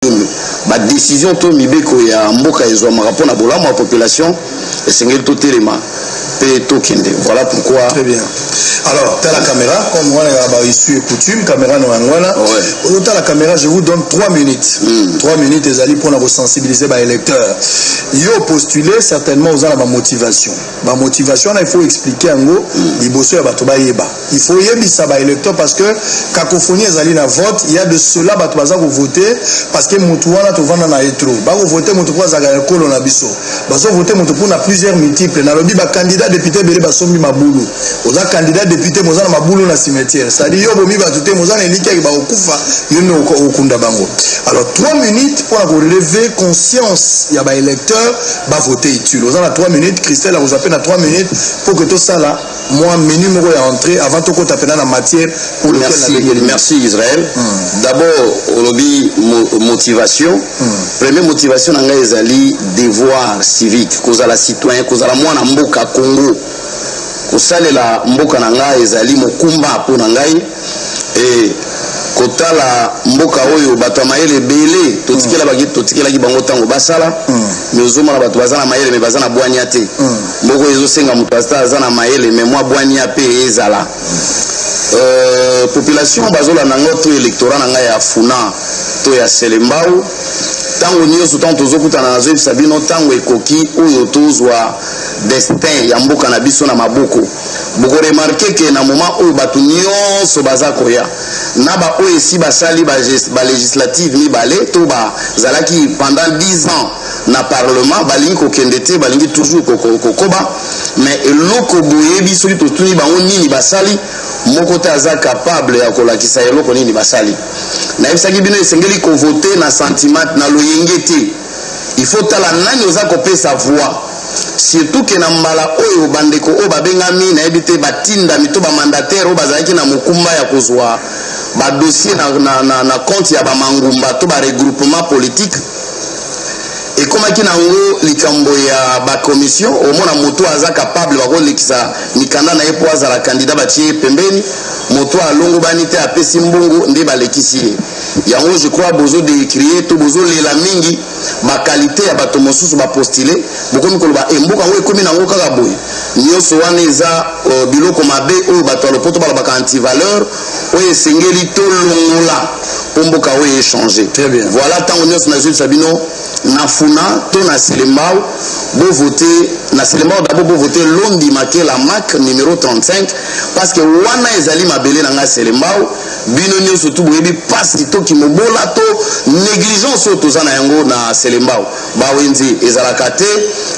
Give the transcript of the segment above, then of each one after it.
nini badecision to mibeko ya mboka ezwamaka mpo na bolamu ya population esengeli totelema mpe tokende voilà pourquoi très bien alors tala caméra comme wana ya ba issue coutume caméra no yango wana oyo tala caméra je vous donne 3 minutes mm. 3 minutes ezali mpona kosensibiliser baélecteur yo postuler certainement oza na bamotivation ba motivation wana il faut expliquer yango liboso ya bato bayeba il faut yebisa ba électeur parce que cacophonie ezali na vote ya de cela bato baza kovote parce que motu wana tovanda na ye tro bakovote moto mpo azalaka ekolo na biso bazovote moto mpo na plusieurs multiples nalobi bacandidat député ebele basombi mabulu oza candidat député moza na mabulu na cimetière cetadi yo bomi bato te moza na elikiaki bakokufa yo nde okunda bango alors 3 minutes mpo na koreve conscience ya baélecteur ba vote utile oza na 3 minutes christelle akozwa mpe na 3 minutes mpo ke tosala mwa menu moko ya entrée avant tokota mpena na matière pour lequel merci, nabengeli merci israel mm. d'abord olobi mo, motivation mm. premier motivation na ngai ezali devoir civique kozala citoyen kozala mwana mboka congo kosalela mboka na ngai ezali mokumba mpo na ngai eh, kotala mboka oyo bato ya mayele ebele totikelaki totikelaki bango ntango basala mm. me ozomona bato baza na mayele me baza na bwania te mm. mboko ezosenga moto ata aza na mayele me mwa bwania mpe ezala euh, population bazolanda ngo to électorat na ngai ya funa to ya selembau ntango nyonso ntango tozokutana nazoyebisa bino ntango ekoki oyo tozwa destin ya mboka na biso na maboko boko remarke ke na moment oyo bato nyonso baza koya na baoyo esi basali balegislative ba mibale to bazalaki pendant 10 ans na parlement balingi kokende te balingi toujours kokoba mais eloko boyebi soki totuni bango nini basali moko te aza capable ya kolakisa eloko nini basali nayebisaki bino esengeli kovote na sentiment na loyenge te il faut tala nani oza kopesa voix surtout ke na mbala oyo bandeko oyo babengami nayebi te batindami to bamandataire oyo bazalaki na mokumba ya kozwa badossier na, na, na, na compte ya bamangumba to baregroupement politique ekomaki na yango likambo ya bakomission omona moto aza kapable bakolekisa mikanda na ye mpo azala kandida batie ye pembeni moto alongobani te apesi mbongo nde balekisi ye yango je crois bozo decrier to bozo lela mingi ba qualité ya bato mosusu ba postuler bokomi koloba emboka yango ekomi nango kaka boye nyonso wana eza uh, biloko mabe oyo bato ya lopoto balobaka antivaleur oyo esengeli tolongola mpo mboka oyo echange voilà ntango nyonso nazwisa bino na funa to na selembao bovote na selembao dabord bovote londi makela mak numero 35 parce que wana ezali mabele na ngai selembao bino nyonso tu boyebi mpasi to kimobola to negligence oyo toza na yango na selembao bawenze ezalaka te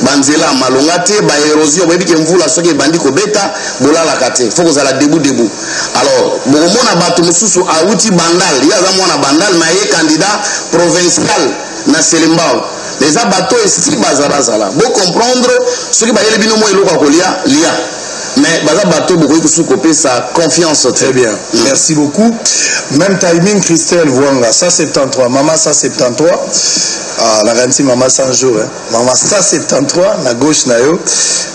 banzela malonga te baerosio boyebi ke mvula soki ebandi kobeta bolalaka te fo kozala debu debu alors bokomona bato mosusu awuti bandal ye aza mwana bandal na ye candidat provincial na selembao eza bato esi bazarazala bocomprendre soki bayeli bino mwa eloko ya kolia lia mais baza bato bokoki kosuki kopesa confiance très bien mm. merci beaucoup même timing christelle vuanga 173 mama 173 ah, nakanisi mama 100 jour eh. mama 173 na gauche na yo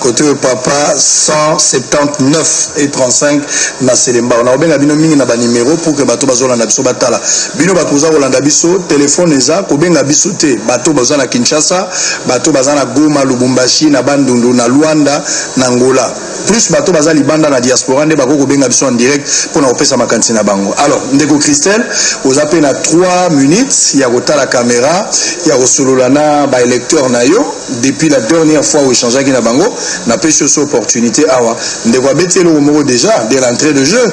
kote oyo papa 179 et 35 na selembao nakobenga bino mingi na banimero pour que bato bazolanda biso batala bino bato boza kolanda biso telefone eza kobenga biso te bato baza na kinshasa bato baza na goma lubumbashi na bandundu na luanda na Angola plus bato baza libanda na diaspora nde bakoki kobenga biso en direct mpo na kopesa makanisi na bango alors ndeko christelle oza mpe na 3 minutes ya kotala kamera ya kosolola na baélecteur na yo depuis la dernière fois oechangeaki na bango napesi oso opportunité awa ndeko abeti eloko moko déjà de l'entrée de jeu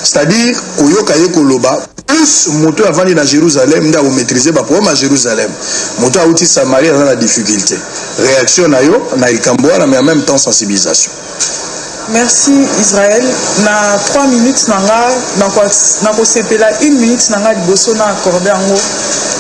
c'est-à-dire koyoka ye koloba plus moto oyo avandi na jérusalem nde akomaîtrise baproblème ya jérusalem moto oyo auti samarie aza na difficulté réaction na yo na likambo wana mais en même temps sensibilisation merci israel na 3 minutes na nga nakosepela na une minute na nga liboso na accorde yango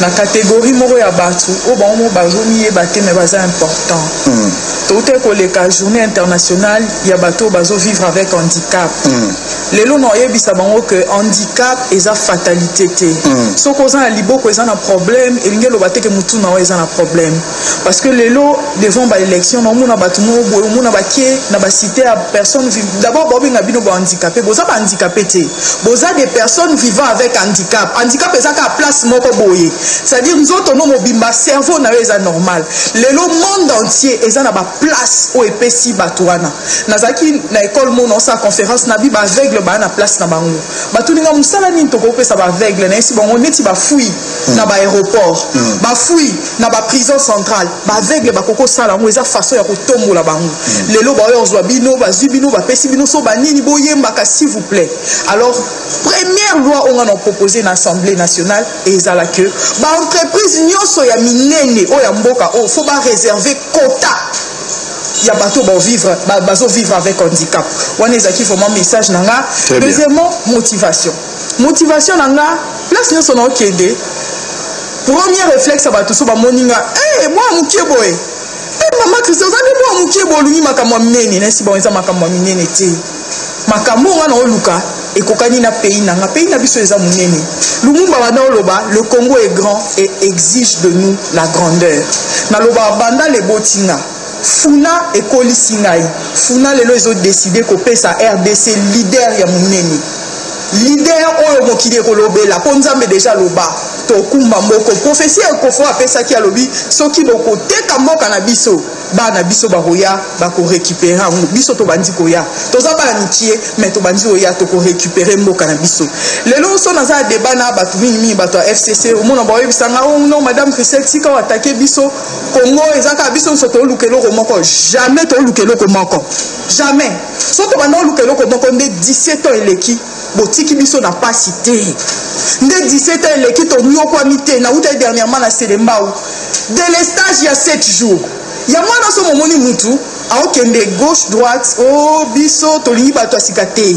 na catégorie moko ya bato oyo bango moko bazomiyeba te mais baza important mm. toutaki koleka journée internationale ya bato oyo bazovivre avec handicap mm. lelo na oyebisa bango que handicap eza fatalité te mm. soki oza na liboko eza na problème elingi eloba te ke motu na yo eza na problème parce que lelo devant baélection naomona bato moko boye omona bakie na bacité ya personne d'abord baobenga bino bahandicapé boza bahandicapé te boza des personnes vivant avec handicap handicap eza kaka place moko boye c'est-à-dire nzoto no mobimba cerveau na yo eza normal lelo monde entier eza na baplace oyo epesi bato wana nazalaki na ekole mona osala conférence na bi baaveugle baya na place na bango batuni nga mosala nini tokoki kopesa baaveugle nayesi bango neti bafui mm. na baaéroport mm. bafui na baprison centrale baaveugle bakoki kosala yango eza façon ya kotombola bango mm. lelo baoyo kozwa bino bazwi bino bapesi bino so banini boyembaka s'il vous plaît alors première loi oyo nga na propose na assemblée nationale ezala que baentreprise nyonso ya minene oyo ya mboka oyo fo bareserve quota ya bato oyo bovivre bazovivre avec handicap wana ezalaki vraiment message na nga deuxièmement motivation motivation na nga place nyonso naokende premier réflexe ya bato so bamoni nga e eh, mwa moke boye e eh, mama kristo oza nde mwa moke boye olungi makambo ya minene nasi bango eza makambo ya minene te makambo oyo nga na oluka ekokani na pays na nga pays na biso eza monene lumumba banda oloba le congo est grand et exige de nous la grandeur nalobaka banda leboti nga funa ekolisi ngai funa lelo ezodeside kopesa rdc leader ya monene lider oyo mokili ekolobela mpo nzambe deja aloba tokumba moko profesi ya ekofo apesaki alobi soki bokoteka mboka na biso bana biso bakoya bakorecupere yango biso tobandi koya toza bana mikie me tobandi koya tokorecupere mboka na biso lelo so naza ya deba na bato mingimingi bato ya fcc omona baoyebisa nga o oh, no madame christel tika oatake biso kongo eza kaka biso nyonso toluka eloko moko jamais toluka eloko moko jamais so tobanda oluka eloko moko nde 17 ans eleki botiki biso na pasi te nde 17 ans eleki tonyokwami te nawutaki dernièrement na selembau delestage ya 7 jours ya mwana so momoni mutu aokende gauche droite o oh, biso tolingi bato ya sika te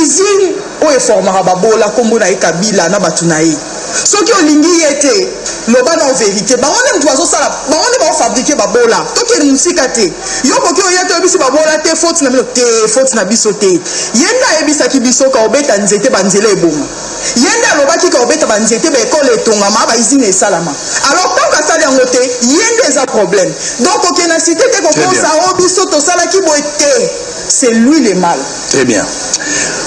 usine oyo eformaka babola nkombo na ye kabila na bato na ye soki olingi ye te loba nao verité bango nde moto bazosala bango nde baofabrike babola tokende mosika te yo koki oye toyebisi babola te foti na bino te foti na biso te ye nde ayebisaki biso kaobeta nzete banzela eboma ye nde alobaki kaobeta banzete baekole etongama baizine esalama alors ntango asali yango te ye nde eza problème donc okenda site te kokosa o oh, biso tosalaki boye te c'est lui le mal Très bien.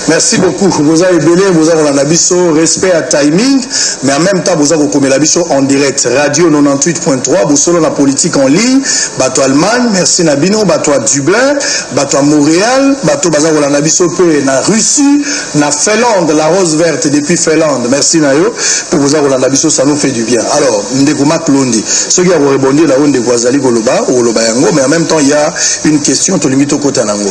Merci beaucoup. Boza ebele, boza kolanda biso, respect à timing, mais en même temps boza kokomela biso en direct. Radio 98.3, bosolo na politique en ligne, bato Allemagne, merci na bino, bato à Dublin, bato à Montréal, bato baza kolanda biso pe na Russie, na Finlande, la rose verte depuis Finlande. Merci na yo pour boza kolanda biso, ça nous fait du bien. Alors, ndeko Marc Londi, ceux qui ont répondu là-haut ndeko azali koloba, koloba yango, mais en même temps il y a une question tolingi tokota nango.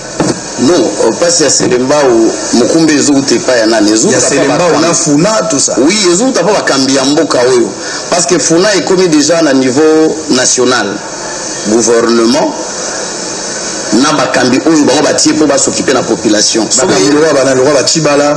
Non, euh, pasi ya Selembao mokumba ezouta epai ya nani? Ezouta ya Selembao na Funa tout ça. Oui, ezouta mpo bakambi ya mboka oyo parce que Funa ekomi déjà na niveau national gouvernement na bakambi oyo bango batie mpo basokipe na population banaloka bacibala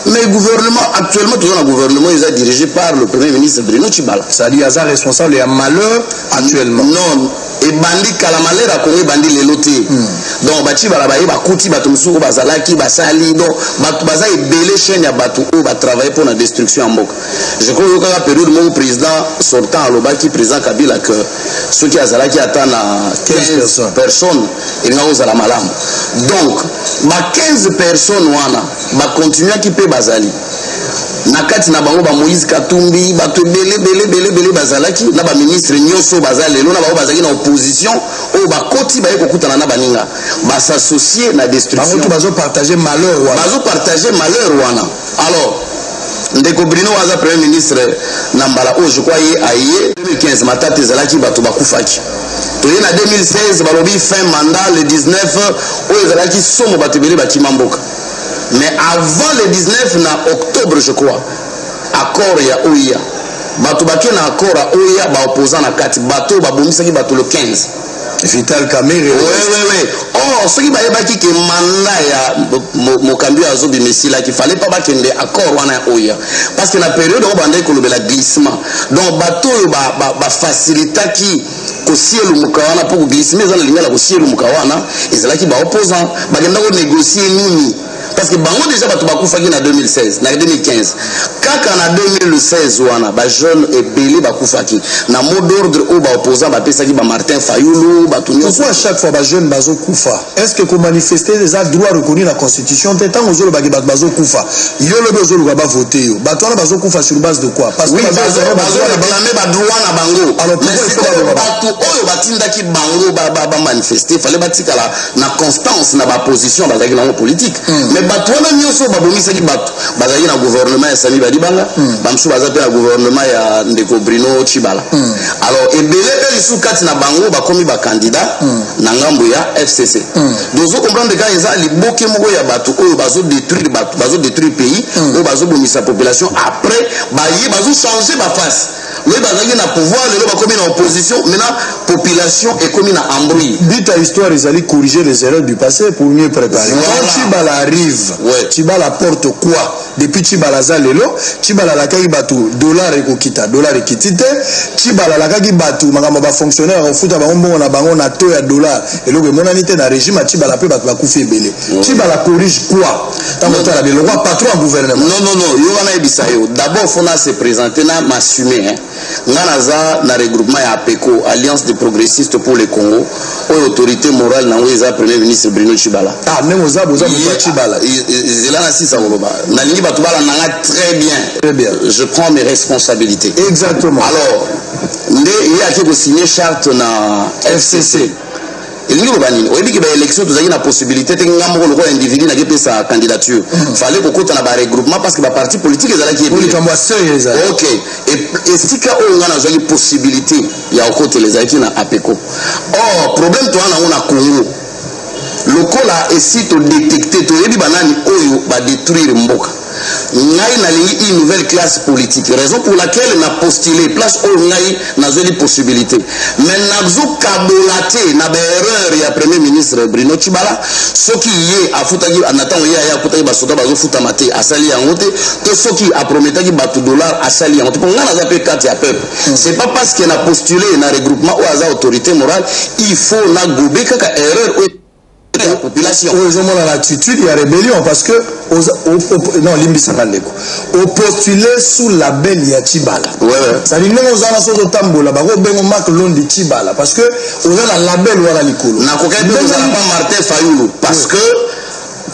mais gouvernement actuellement toza na gouvernement eza dirigé par le premier ministre bruno cibala c'est-à-dire aza responsable ya malheur actuellement non ebandi kala malera kongo ebandi lelo te hmm. donc bacibala baye bakuti bato mosusu oyo bazalaki basali donc bato baza ebele chaine ya bato oyo batravaille mpo na destruction ya mboka je crois oyokaka periode moko président sortant alobaki président kabila que soki azalaki ata na 15 personnes elinga kozala malamu donc ba 15 personnes wana bakontinuaki mpe bazali na kati na bango ba moïse katumbi bato ebele bele bele bele bazalaki na baministre nyonso baza lelo na bango bazalaki na opposition oyo bakoti baye kokutana na baninga basassocie na destructionbango bazopartage malheur wana bazopartage malheur wana alors ndeko brino aza premier ministre na mbala oyo je crois ye aye 2015 matata ezalaki bato bakufaki toye na 2016 balobi fin mandat le 19 oyo ezalaki somo bato ebele bakima mboka mais avant le 19 na octobre je crois accord ya oia bato bake na accord ya oia baopposant na kati bato oyo babomisaki bato le 15 vital kamere wewewe or soki bayebaki ke manda ya mokambi oyo azobima esilaki fale mpa bakende accord wana ya oia parce que na periode oyo bandaki kolobela glissement donc bato oyo bafacilitaki ba, ba kosielumuka wana mpo glissime eza na lingala kosielumuka wana ezalaki baopposant bakenda konegocie nini parce que bango déjà bato bakufaki na 2016 na 2015 kaka na 2016 wana bajeune ebele bakufaki na mot d'ordre oyo baopposant bapesaki bamartin fayulu bato nyonso chaque fois bajeune bazokufa est ce que ko manifester eza droit reconnu na constitution te ntango ozolobaki bato bazokufa yo lobi ozoluka bavote yo bato wana bazokufa sur base de quoi parce que bazoreklame badroit na bango bato oyo batindaki bango bamanifeste fale batikala na constance na baposition bazalaki nango politique hmm. mais bato wana nyonso babomisaki bato bazalaki na gouvernement ya sami badibanga mm. bamosusu baza mpe na gouvernement ya ndeko bruno chibala mm. alors ebele mpe lisusu kati na bango bakomi bakandida mm. na ngambo ya fcc mm. dozo comprendre kaka eza liboke moko ya bato oyo bazodétruire bato bazodétruire pays mm. oyo bazobomisa population après baye bazochange baface mais bazalaki na pouvoir lelo bakomi na opposition maintenant population ekomi na embrouille but ya histoire ezali corriger les erreurs du passé pour mieux préparer voilà. quand chibala arrive ouais. chibala porte quoi depuis chibala aza lelo chibala alakaki bato dollar ekokita dollar ekiti te chibala alakaki bato makambo ya bafonctionnaire akofuta bango mbongo na bango na to ya dollar eloko emonani te na régime ya chibala mpe bato bakufi ebele chibala corrige quoi ntango otala bino lokola patron ya gouvernement non non non yo wana yebisa yo d'abord fo na se présente na m'assume hein. nga naza na regroupement ya apeco alliance des progressistes pour le congo oyo autorité morale nango eza premier ministre bruno chibala ah ndenge oza boza moto ya chibala zela na sisa koloba nalingi bato balandanga très bien très bien je prends mes responsabilités exactement alors nde ye ake kosigne charte na fcc elingi loba nini oyebi ke baélection tozalaki na possibilité te nga moko lokola individu naki pesa candidature mm. fallait kokota na baregroupement parce que baparti politique ezalaki ebilikambo ya seuil ezali ok esika oyo nga nazwaki possibilité ya kokotela ezalaki na apeco or problème toza nango na congo lokola esi todetecte toyebi banani oyo badetruire mboka ngai nalingi une nouvelle classe politique raison pour laquelle na postule place oyo ngai nazweli possibilité mais nazokabola te na baerreur ya premier ministre bruno cibala soki ye afutaki na ntango ye aye akutaki basoda bazofutama te asali yango te to soki aprometaki bato dollar asali yango te mpo ngai naza mpe kati ya peuple hmm. c'est pas parce que na postule na regroupement oyo aza autorité morale il faut nagobe kaka erreur oyo ya population oyo ezomona na attitude ya rébellion parce que non limbisaka ndeko opostule sous label ya chibala sadi ndenge oza na soki otambola bako bengo mark londi chibala parce que oza na label wana likolo nakokaki mpe kozala pa martin fayulu parce que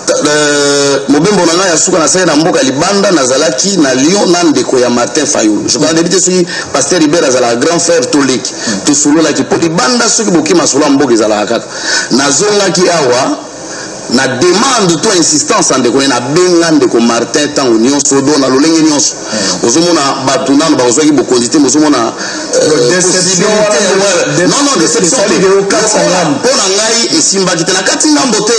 Euh, mobembo na ngai ya suka nasali na mboka libanda nazalaki na lyon na ndeko ya martin fayulu je parle te soki paster riber azalaka grand frère toleki tosololaki mpo libanda soki bokima solo ya mboka ezalaka kaka nazongaki awa na demande to insistance ya ndeko ne nabenga ndeko martin ntango nyonso do na lolenge nyonso hmm. ozomona bato nano bakozwaki bokonzi te mozomona euh, mpo na ngai esimbaki te nakati ngambo te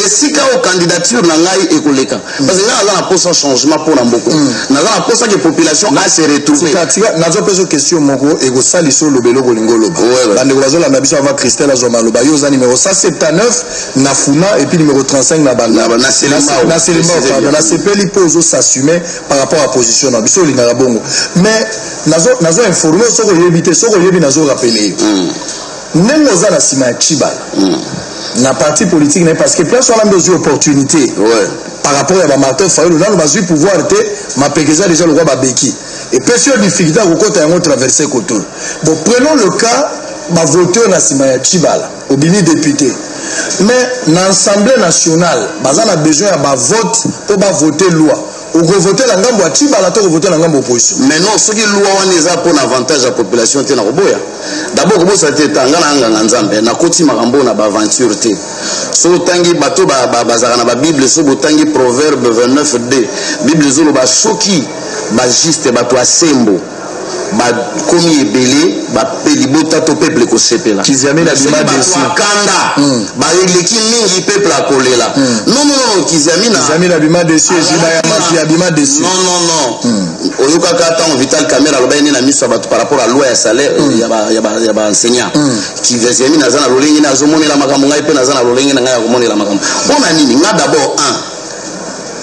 esika oyo candidature na ngai ekoleka parce que nga naza na posa changement mpo na mboko mm. naza na posa ke population ase retrouvetika nazwa mpe zo question moko ekosalisa oloba eloko olingi oloba bandeko bazolanda biso avant christelle azwa maloba yo oza numero 179 na funa epuis numero 35 na bandanaselembaopardon nasepeli mpo ozosassume par rapport ya position na biso olingaka bongo mais nazo informe soki oyebi te soki oyebi nazo rappele yo mm. ndenge oza na nsima ya chibala mm. na parti politique na ye parce que place wana nde ozwi opportunité ouais. par rapport ya bamartin fayulu nano bazwi pouvoir te mapeka eza déjà lokola babeki epesi yo difficulté ya kokota yango traverse koto bon prenons le cas bavote oyo na nsima ya chibala obimi député mais na assemblée nationale baza na besoin ya bavote mpo bavote loi okovote na ngambo ya tibala to okovote na ngambo opposition mais non soki loi wana eza mpo na avantage ya population te nakoboya dabord kobosa te ta nga na anganga nzambe nakoti makambo na baaventure te so otangi bato bazalaka na babible so botangi proverbe 29 d bible ezoloba soki bajuste bato ya sembo bakomi ebele bape libota to peuple ekosepela kiziamene abima desi kanda hmm. baleki mingi peuple akolela hmm. non non non kiziamina kiziamina abima desi ezima ya mafia abima desi non non non hmm. oyokaka ntango vital camera alobaki nini na miso ya bato par rapport à loi ya salaire ya ba enseignant kiziamina aza na lolenge ne azomonela makambo ngai mpe naza na lolenge na ngai ya komonela makambo mpo na nini ngai d'abord un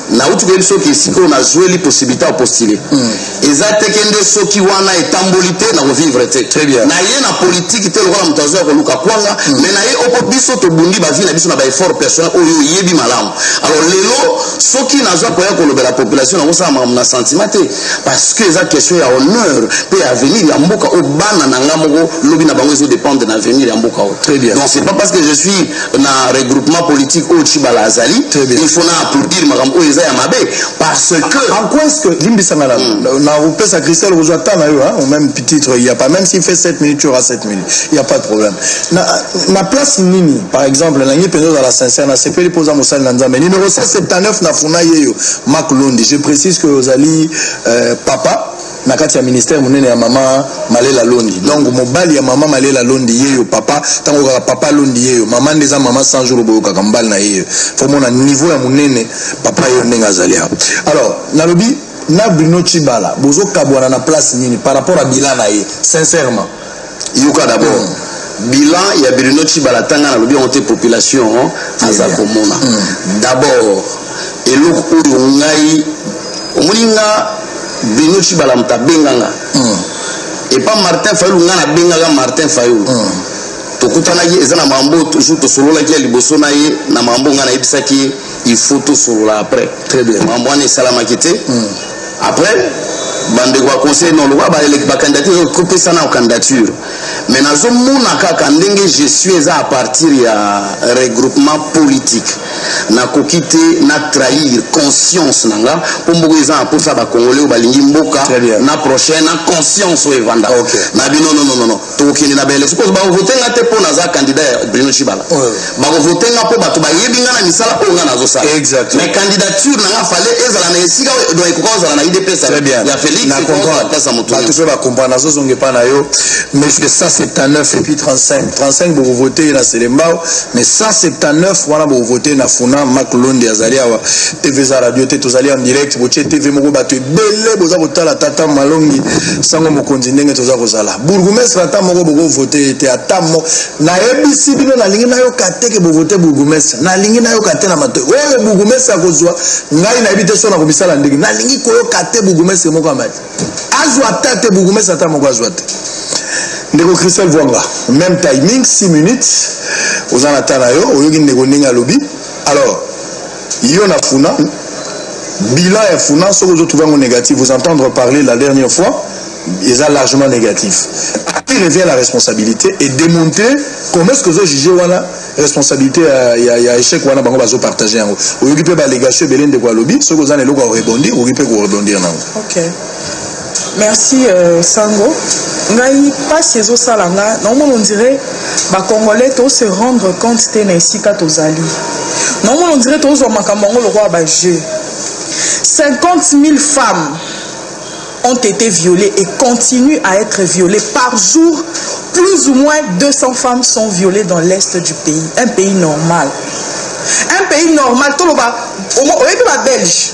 nauti koyebi soki esika oyo nazweli possibilité ya postule hmm. eza teke nde soki wana etamboli te nakovivre te na ye na politike te lokola moto azwa ya koluka kwanga hmm. mais na ye oko biso tobundi bavi na biso na baeffort personnel oyo oyebi malamu alors lelo soki nazwa koya kolobela population nakosala makambo na sentiment te parce que eza question ya honneur mpe ya avenir ya mboka oyo bana na nga moko lobi na bango ezodépendre na avenir ya mboka oyo donc c'est pas parce que je suis na regroupement politique oyo tshibala azali il faut na applaudir makambo oyo eza ya mabe parce que en quoi est-ce que limbisa nga hmm. na kopesa christelle okozwa temps na yo au même titre il y a pas même s'il fait 7 minutes tu auras 7 minutes il y a pas de problème na, na place nini par exemple na ngi mpenza ozala sincère na sepeli mpo oza mosali na nzambe numéro 179 na funa yeyo mak londi je précise que ozali euh, papa na kati ya ministère monene ya mama malela londi donc mobali ya mama malela londi yeyo papa ntango kaka papa londi yeyo mama nde eza mama 100 jour boyokaka mobali na yeyo fomona niveau ya monene papa yeyo ndenge azali awa alors nalobi na bruno cibala bozokabwana na place nini par rapport ya bila na ye sincèrement yoka d'abord bilan ya Bruno Tshibala tanga na lobi te population hein, aza komona mm. d'abord eloko oyo ngai omoni nga Bruno Tshibala moto abenga nga mm. epa Martin Fayulu nga nabengaka Martin Fayulu mm. tokutanaki eza na mambo toujours tosololaki ya liboso na ye na mambo ngai nayebisaki ye il faut tosolola après mambo wana esalamaki te après bandeko ya conseil non lokola bacandidature ezo kopesa na candidature mais nazomona kaka ndenge je suis eza à partir ya regroupement politique nakoki te na trahir conscience na nga mpo mboka eza na mposa bakongole oyo balingi mboka na prochain na conscience oyo evanda okay. na bino nononono tokokende na baelection mpo bakovote nga te mpo naza kandida ya bruno cibala bakovote nga mpo bato bayebi nga na misala oyo nga nazosala mais candidature na nga fale ezala na esika do ekoka kozala na idps ya félixpesa motubato soki bakomprendre nazozonga epa na yo mais 179 epuis 35 35 bokovote ye na selembao mais 179 wana bokovote na funa mak londi azali awa tv eza radio te tozali en direct botie tv moko bato ebele boza kotala tata malongi sango mokonzi ndenge toza kozala bourgoumestre ata moko boko vote ye te ata mo nayebisi bino nalingi nayoka te ke bovote bourgoumestre nalingi nayoka te na matoi oyo bourgoumestre akozwa ngai nayebi te so nakobisala ndenge nalingi koyoka te bourgoumestre moko amali azwa ata te bourgoumestre ata moko azwa te ndeko christel vwanga même timing 6 minutes oza na ta na yo oyoki ndeko ndenge alobi alors Yo na funa bilan ya funa soki ozo trouver yango négatif vous entendre parler la dernière fois eza largement négatif qui revient la responsabilité et démontrer comment est-ce que ozo juger wana responsabilité ya, ya, ya échec wana bango bazo partager yango oyoki mpe balégation ebele ndeko alobi soki oza na eloko ya korebondir okoki mpe korebondir nango okay. merci euh, sango ngai mpasi ezosala nga naomona ondire bacongolais tose rendre compte te na esika tozali naomona ondire tozwa makambo yango lokola bajeu 50 000 femmes ont été violées et continuent à être violées par jour plus ou moins 200 femmes sont violées dans l'est du pays un pays normal un pays normal toloba oyebi babelge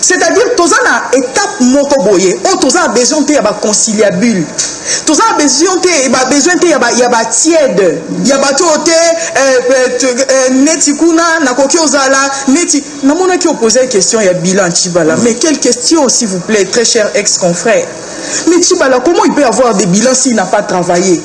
c'est-à-dire toza na étape moko boye oyo toza na besoin te ya baconciliabule toza na besoin te babesoin te ya batiede ya bato oyo te euh, euh, euh, neti kuna nakoki ozala neti namonaki opose question ya bilan cibala mais quelle question s'il vous plaît très cher ex confrère Mais Chibala, comment il peut avoir des bilans s'il n'a pas travaillé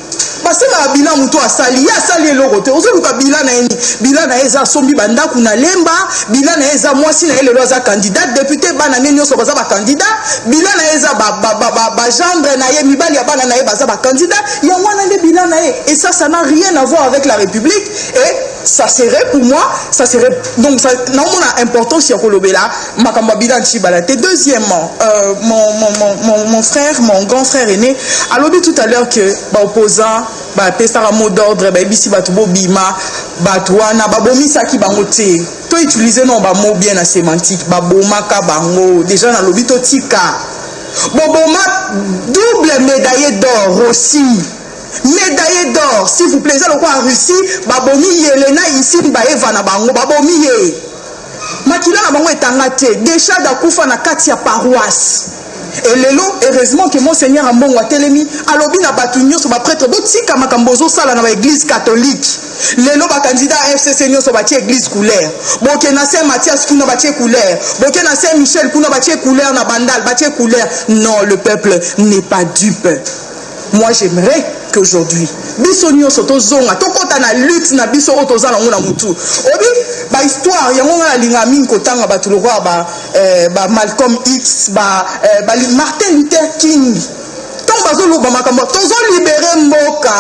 basengaka bila moto asali ye asali eloko te ozoluka bila na ye nini bila na ye eza asombi bandako na lemba bila na ye eza mwasi na ye lelo aza candidat depute bana ne nyonso baza bacandidat bila na ye eza bagendre na ye mibali ya bana na ye baza bacandidat yango wana nde bila na ye et ça ça n'a rien à voir avec la république et ça serait pour moi ça serait donc naomona importance ya kolobela makambo abida ntshibala te deuxièmement euh, mon, mon, mon, mon frère mon grand frère aîné alobi tout à l'heure que baopposant bapesaka mot d'ordre bayebisi bato bobima bato wana babomisaki bango te to utilise non bamo bien na sémantique babomaka bango déjà nalobi totika boboma double médaille d'or aussi médaille d'or s'il vous plaît eza lokola russie babomi yelena isine baeva na bango babomi ye makila na bango etanga te deshad akufa na kati ya paroisse elelo heureusement ke monseigneur ambongo atelemi alobi na bato nyonso bapretre botika makambo ozosala na baeglise katholike lelo bakandida ya fcc nyonso batie eglise couleur boke na saint mathias kuna batie couleur boke na saint michel kuna batie couleur na bandal batie couleur non le peuple n'est pas dupe Moi j'aimerais qu'aujourd'hui biso nyonso tozonga tokɔta na lutte na biso oyo toza nango na motu obi bahisttoire yango ngai nalinga mingi kotanga bato lokola ba, eh, ba malcolm x ba, eh, ba martin luther king ntango bazoloba makambo tozolibere mboka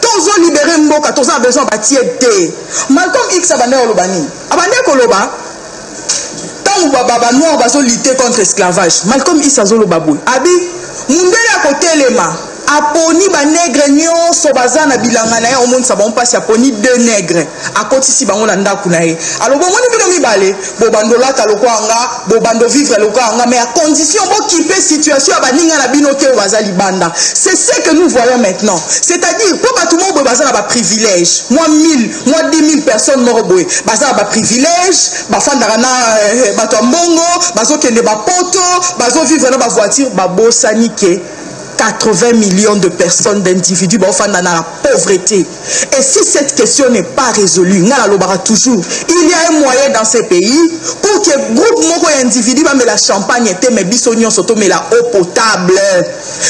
tozolibere mboka toza na besoin batiede te malcolm x abandaki koloba nini abandaki koloba ntango ba noir bazo lutter contre esclavage malcolm isa azoloba boye abi mundele akotelema aponi banegre nyonso baza na bilanga na ye omonisa bango mpasi aponi deux negre akotisi bango na ndako na ye alobi omoni bino mibale bobando olata lokola nga bobando vivre lokola nga mais a condition bokipe situation ya baninga na bino te oyo baza libanda c'est ce que nous voyons maintenant c'est-à-dire mpo bato moko boye baza na baprivilège mwa 1000 mwa 10000 personnes moko boye baza na baprivilège bafandaka na eh, bato ya mbongo bazokende bapoto bazovivre na bavoiture babosani ke 80 millions de personnes d'individus baofanda na la pauvreté et si cette question n'est pas résolue ngai nalobaka toujours il y a un moyen dans ce pays pour que groupe moko ya individu bamela champagne te mais biso nyonso tomela eau potable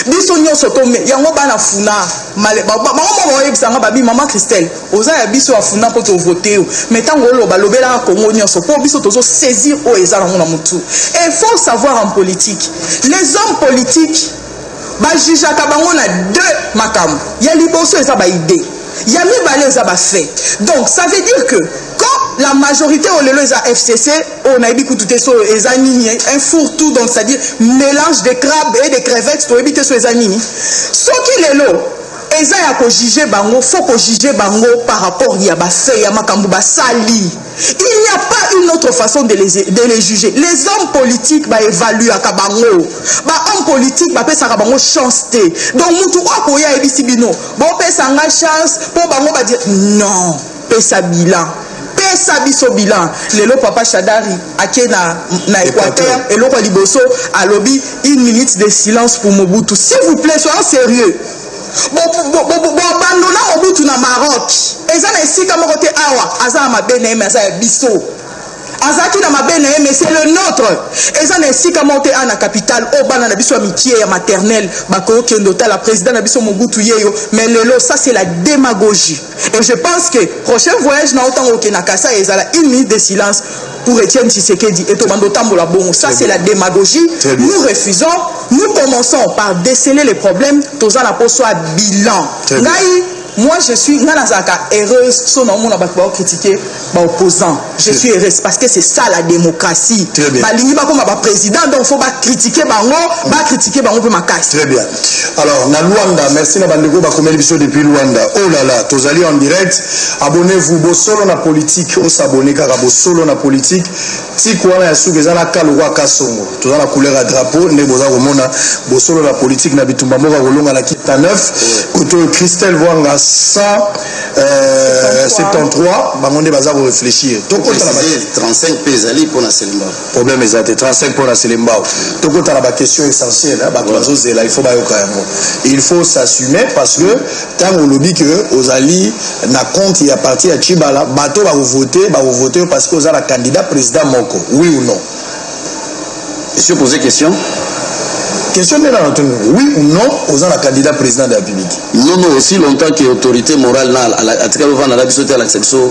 biso nyonso tome yango bana funa bango moko bakoyebisa nga babi mama christelle oza ya biso ya funa mpo tovote yo mai ntango oloba lobelaka kongo nyonso mpo biso tozosaisir oyo eza nango na motu e faut savoir en politique les hommes politiques bajijaka bango na deux makambo ya liboso eza baide ya mibale eza bafait donc ça veut dire que Comme la majorité au lelo eza FCC, on oh, na yebi kutu te so eza nini, un four tout donc c'est-à-dire mélange de crabes et de crevettes to yebi te so eza nini. Soki lelo eza ya ko juger bango, faut ko juger bango par rapport ya ba fait ya makambo ba sali. Il n'y a pas une autre façon de les, de les juger. Les hommes politiques ba évaluer à bango. Ba hommes politiques ba pesa bango chance te. Donc mutu okoya ebisi bino. Bo pesa nga chance pour bango ba dire non. Pesa bilan. Pesa biso bilan. Lelo papa Shadari ake na na Equateur eloko ya liboso alobi une minute de silence pour Mobutu. S'il vous plaît, soyons sérieux. boabandona mobutu na maroc eza na esika moko te awa aza na mabe na ye me aza ya biso azalaki na mabe na ye mais c'est le nôtre eza na esika moko te a na capitale oyo bana na biso ya mikie ya maternelle bakoki okende otala président na biso mobutu yeyo mais lelo ça c'est la démagogie et je pense que prochain voyage na yo ntango okende na kasa ezala une minute de silence pour Etienne Tshisekedi et tobanda otambola bongo ça c'est la démagogie nous refusons nous commençons par déceler les problèmes toza na mpo soit bilan ngai Moi, je suis, nga nazalaka heureuse so naomona bato bao critiquer ba opposant je suis heureuse parce que c'est ça la démocratie balingi bakoma ba président donc faut ba critiquer bango mm. ba critiquer bango mpe makasi très bien alors na luanda merci na bandeko bakomeli biso depuis luanda oh là là tozali en direct abonnez-vous bosolo na politique osabone kaka bosolo na politique Tiku wana ya suka eza na ka lokola kasongo toza na couleur ya drapeau nde boza komona bosolo na politique na bitumba moko ya kolonga na kita 9 kote oyo christelle vwanga 173 euh, bango nde baza korefléchir tokota na 35 mpe ezali mpo na selembao problème eza te 35 mpo na selembao tokota na baquestion essentielle bato bazozela il faut bayoka yango il faut s'assumer parce que ntango olobi ke ozali na compte ya parti ya chibala bato bakovote bakovote yo parce que oza na candidat président moko oui ou non esio pose question question nde na natuni oui ou non oza na candidat président de la république non non aussi longtemps que autorité morale na atikali ovanda na biso te alakisa biso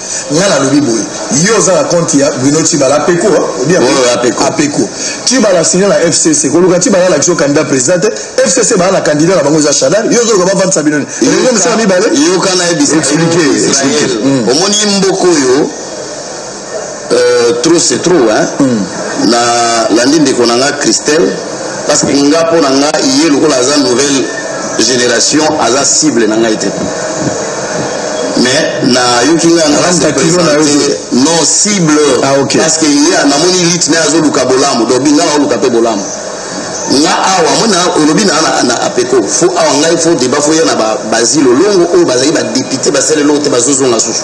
nga nalobi boye yo oza na compte ya bruno tibala apeko apeko tibala asigne na fcc koluka tibala alakisi yo candidat président te fcc baa na candidat na bango eza shadal yo ozoluka bavandisa bino nini mosala mibale yoka na yebisa hmm. omoni mboko oyo euh, trop c'est trop hein hmm. na landi ndeko na nga christelle parce que nga mpo na nga ye lokola aza nouvelle génération aza cible na ngai te mais nayoki nga non cible ah, okay. parce que ye namoni lite naye azoluka bolamu donc binga naoluka mpe bolamu nga awa mona olobi na na apeko fo awa ngai fo deba fo ya na bazilo longo oyo bazali badepute basali eloko te bazozonga susu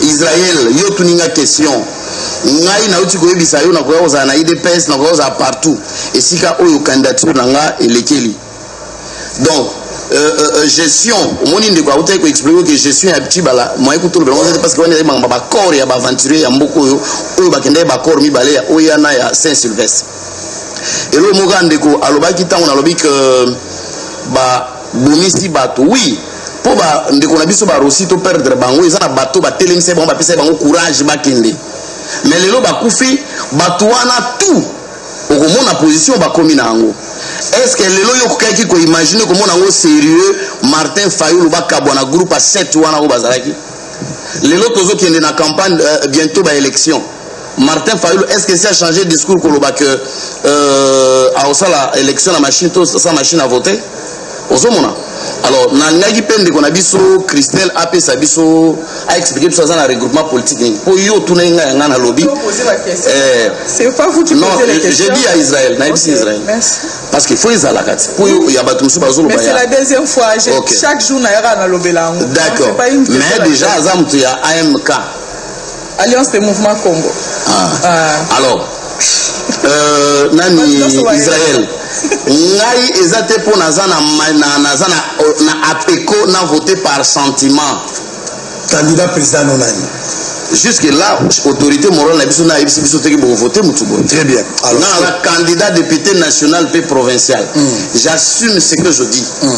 Israël, yo tuni nga question. Ngai nauti koyebisa yo nakoya kozala na IDPS, nakoya kozala partout. Esika oyo candidature na nga elekeli. Donc, euh, euh, euh gestion, omoni ndeko autai ko expliquer que gestion ya Tibala, moi ko tolo bango parce que wana ya banga ba corps ya ba aventurier ya mboko oyo oyo bakendaki ba corps mibale ya oya na ya Saint Sylvestre. Elo moka ndeko alobaki tango nalobi que ba bomisi bato oui mpo bandeko na biso barosi to perdre bango eza na bato batelemisa bango bapesa bango courage bakende me lelo bakufi bato wana tout okomona position bakomi na yango estce que lelo yo okokaki koimagine komona yango serieux martin fayulu bakabwa na groupe ya 7 wana oyo bazalaki lelo tozokende na campagne uh, bientôt baélection Martin Fayulu, est-ce que ça a changé de discours pour le bac euh, à Osala, élection, la machine, tout ça, machine à voter ozomona alors nalingaki mpe ndeko na biso christelle apesa biso aexplike biso aza na regroupement politique nini mpo yo otunaki ngai yanga nalobi eh, non je dis ya israel nayebisi israel parce que fo ezalaka ti mpo ya bato mosusu bazoloba d'accord mais déjà aza moto ya amk Alliance des mouvements Congo. Ah. Ah. Alors, euh, nani Israël ngai eza te mpo naza na, na, naza na, na apeco na vote par sentiment candidat président no nani jusque là autorité morale na biso na ayebisi biso teke bokovote motu boye très bien alors na candidat député national mpe provincial mm. j'assume ce que je dis mm.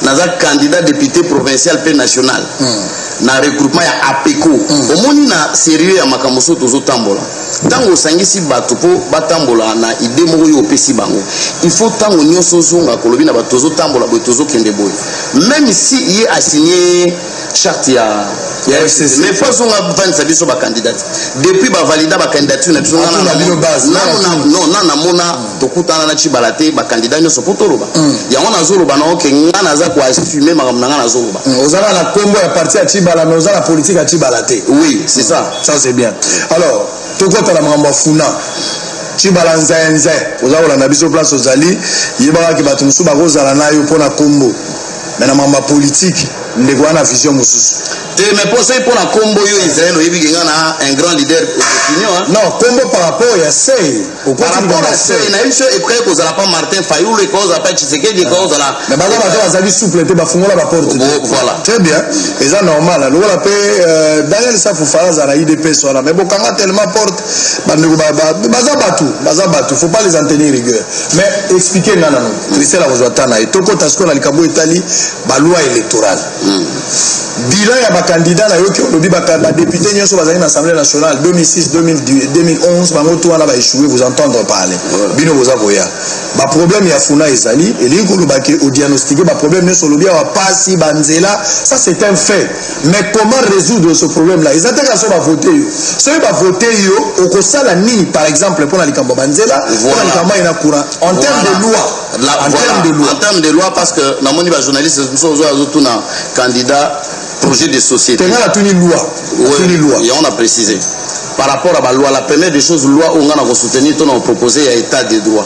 naza candidat député provincial mpe national hmm. na regroupement ya apeco hmm. omoni na sérieux ya makambo so tozotambola ntango osangisi bato mpo batambola na ide moko oyo opesi bango il faut ntango nyonso ozonga kolobi na bato tozotambola boye tozokende boye même si ye asigne charte ya ya FCC mais pas zonga vandisa biso ba candidat depuis ba valida ba candidature na biso ah, na na bino base na na non na na mona hmm. tokutana na chibala te ba candidat nyoso poto loba hmm. yango na zoloba na oke nga na za ko assumer makambo na nga na zoloba hmm, ozala na kombo ya parti ya chibala mais ozala politique ya chibala te oui c'est ça ça c'est bien alors tokota na makambo ya funa cibala nzenze oza kolanda biso place ozali yebaka ke bato mosusu bakozala na yo mpo na nkombo mais na mamba politique ndeko wana vision mosusu te mais mpo soki mpo na nkombo yo israel oyebi kenga na un grand leader opinion non nkombo par rapport ya sei par rapport ya sei nayebi so eprès ekozala pa martin fayulu ekozala pa tshisekedi ekozala mais baza baza bazali souple te bafungola baporte voilà très bien eza normal lokola mpe euh, daniel safufa azala na idps wana mais bokanga tellement porte bandeko baza bato baza bato faut pas les en tenir rigueur mais expliquer nga nano christelle akozwa ta na ye tokota sikoyo na likambo etali baloi électorale hmm. bilan ya bakandida nayoki olobi badepute nyonso bazali na assemblée nationale 2006 2011 bango to wana baechoue vous entendre parler bino boza koya baproblème ya funa ezali elingi koloba ke odiagnostike baproblème nyonso olobi awa pasi banzela ça c'est un fait mais comment résoudre ce problème là eza te kaka so bavote yo soki bavote yo okosala nini par exemple mpo na likambo ya banzela mpo na likambo aye na courant en terme de loi en terme de loi en terme de loi parce que namoni bajournaliste mosusu ozo azotuna candidat projet de société tenga natuni loi natuni loi yango na précise par rapport à baloi la première des choses loi oyo ngai na kosoutenir to na kopropose ya état de droit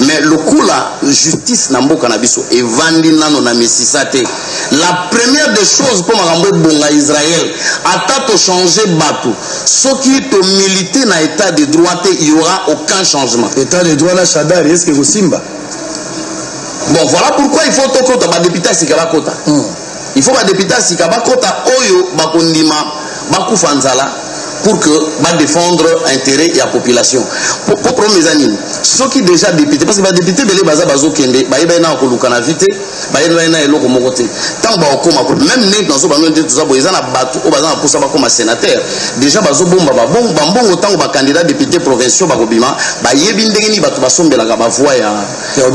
mais lokola justice na mboka na biso evandi nano na misisa te la première des choses mpo makambo ebonga israel ata tochange bato soki tomilite na état de droit te il y aura aucun changement état de droit na shadar eske kosimba bon voilà pourquoi il faut tokota badepute ya sika bakota mm. il faut badepute ya sika bakota oyo bakondima bakufa nzala pour que badefendre intérêt ya population po problème eza nini soki déjà député parce que badepute ebele baza bazokende bayebani na koluka na vi te bayebani na eloko moko te ntango bakokoma même neti nazo bano nde toza boye eza na bato oyo baza na mposa bakoma sénateur déjà bazobomba bambongo ntango bacandidat député provinciaux bakobima bayebi ndenge nini bato basombelaka bavoi ya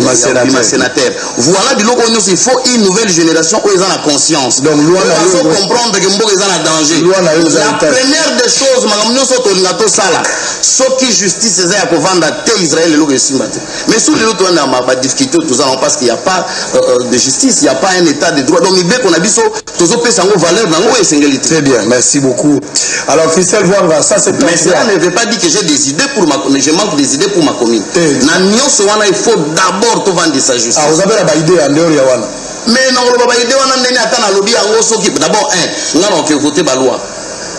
ma sénateur voilà biloko nyonso il faut une nouvelle génération oyo eza na conscience donc loi na yo comprendre que mboka eza na danger loi na yo la première des choses makambo nyonso tolinga tosala soki justice eza ya kovanda te Israël eloko esimba te mais soki lelo toyana ba difficulté oyo tozalaka parce qu'il y a pas euh, euh, de justice il y a pas un état de droit donc mibeko na biso tozopesa yango valeur na yango oyo esengeli te très bien merci beaucoup alors christelle vanga ça c'est mais cela ne veut pas dire que j'ai des idées pour ma mais je manque des idées pour ma commune eh. na nyonso wana il faut d'abord tovandisa justice ah, oza mpe na baidée ya ndeyori ya wana mais nakoloba baide wana ndenge ata nalobi yango soki d'abord un nga naoke vote baloi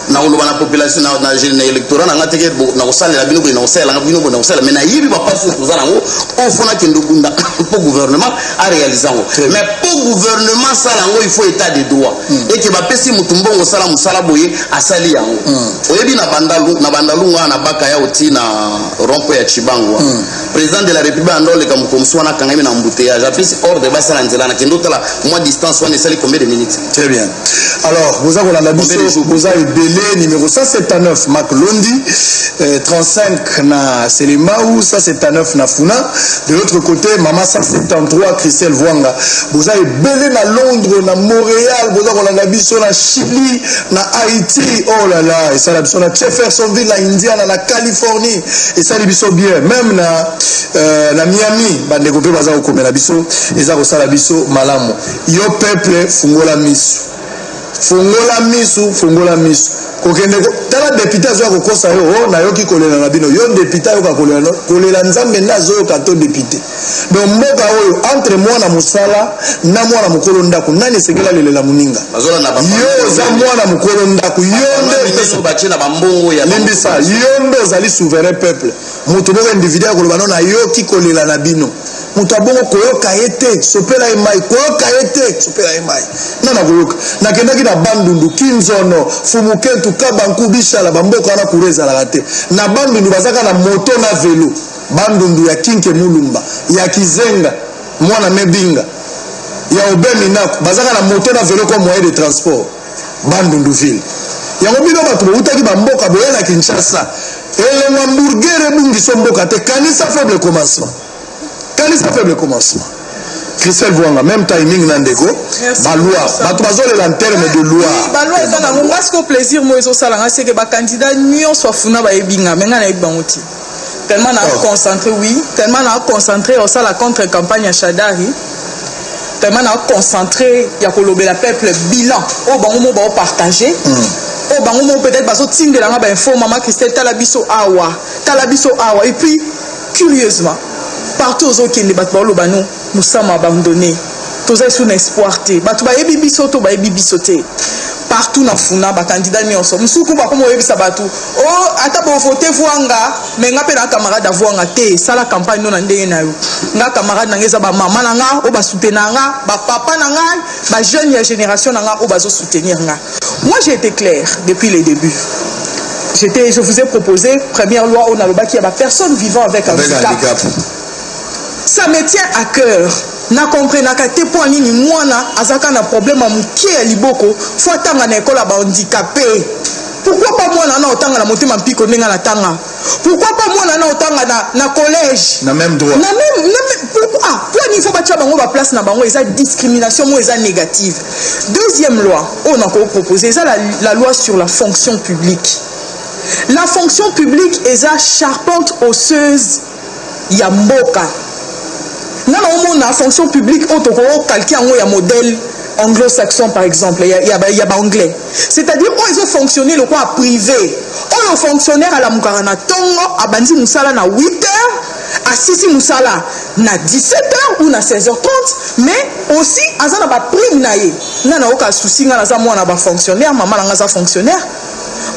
nakoloba na population na électorat na nga teke nakosalela bino boye nakosalela bino boye nakosalela mais nayebi bapasi oyo toza nango ofo nakende okunda mpo gouvernement arealise yango mais mpo gouvernement asala yango il faut état de droit hmm. eke bapesi motu mbongo osala mosala boye asali yango hmm. oyebi na bandalunga na baka ya oti na rompo ya cibango hmm. président de la république anda oleka mokomisi wana akangami na embouteillage apesi ordre basala nzela na kende otala mwa distance wana esali combien de minutes très bien alors boza kolanda biso boza ebele numéro 179 mak londi euh, 35 na selemau 179 na funa de l'autre côté mama 173 christelle voanga boza ebele na londres na montréal boza kolanda biso na chili na haïti oh là là esala biso na jeffersonville na indiana na californie esali biso bien meme na, euh, na miami bandeko mpe baza kokomela biso eza kosala biso malamu yo peuple fungola misu fungola misu fungola misu kokende tala depute azoya kokosa yo o oh, nayoki kolela na bino yo depute ayoka kolela kolela nzambe nde azoyoka to depute donc mboka oyo entre mwana mosala na mwana mokolo ndako nani esengeli alelela moninga yo oza mwana mokolo ndako yondelimbisa yo nde ozali souverain peuple moto moko individu akoloba no nayoki kolela na bino moto abongo koyoka ye te sopela ye mai koyoka ye te sopela ye mai nga na koyoka nakendaki na bandundu kinzono fumukentu kabanku bishala bamboka wana kura ezalaka te na bandundu bazaka na moto na velo Bandundu ya Kinke Mulumba, ya Kizenga, Mwana Mebinga, ya Aubin Minaku, bazaka na moto na velo comme moyen de transport. Bandundu ville. Yango bino bato bowutaki bamboka boye na Kinshasa. Elengwa mburgere ebungiso mboka te. Kanisa faible commencement. Kanisa faible commencement. Christelle Vuanga, même timing na ndeko, ba loi, bato bazolela en terme de loi. Ba loi eza nango, ngai siko plaisir mo ezosala ngai seke ba candidat nyonso afuna bayebi ngai, me ngai nayebi bango te. tellement na concentré oui tellement na concentré osala contre campagne ya shadari tellement na concentré ya kolobela peuple bilan oyo bango mo baopartage mm. oyo bango mo peut-être bazotindela nga bainfo mama christelle tala biso awa tala biso awa et puis curieusement partout ozokende bato baoloba no Nous sommes abandonnés. Toza isu na espoir te. Bato bayebi biso to bayebi biso te. Partout na funa ba candidat nyonso. Musuku ba komo yebisa bato. Oh ata bo voter vuanga mais nga pe na camarade à vuanga te. Sala campagne no na ndenge na yo. Nga camarade na nga eza ba maman na nga o ba soutenir nga, ba papa na nga, ba jeunes ya génération na nga o bazo soutenir nga. Moi j'ai été clair depuis les débuts. J'étais, je vous ai proposé première loi au Nalobaki, il y a personne vivant avec, avec un handicap. handicap. ça me tient à cœur na comprenaka te mpo nini mwana azalaka na problème ya moke ya liboko fo atanga na ekolo ya bahandikape pourquoi pas mwana wana otanga na motema mpiko ndenge natanga pourquoi pas mwana wana otanga na, na collège na même droit na même, na même pourquoi ah, mpo nini fo batya bango baplace na bango eza discrimination moko eza négative deuxième loi oyo nakoki propose eza la, la loi sur la fonction publique la fonction publique eza charpente osseuse ya mboka nga na omona fonction publique oyo tokokalke yango ya modèle anglo-saxon par exemple ya, ya, ya baanglais c'est-à-dire oyo ezofonctionne lokola privé oyo fonctionnaire alamukaka na ntongo abandi mosala na 8 heures asisi mosala na 17 heures ou na 16 heures 30 mais aussi aza na baprime na ye nga nayoka susi nga naza mwana bafonctionnaire mama na nga aza fonctionnaire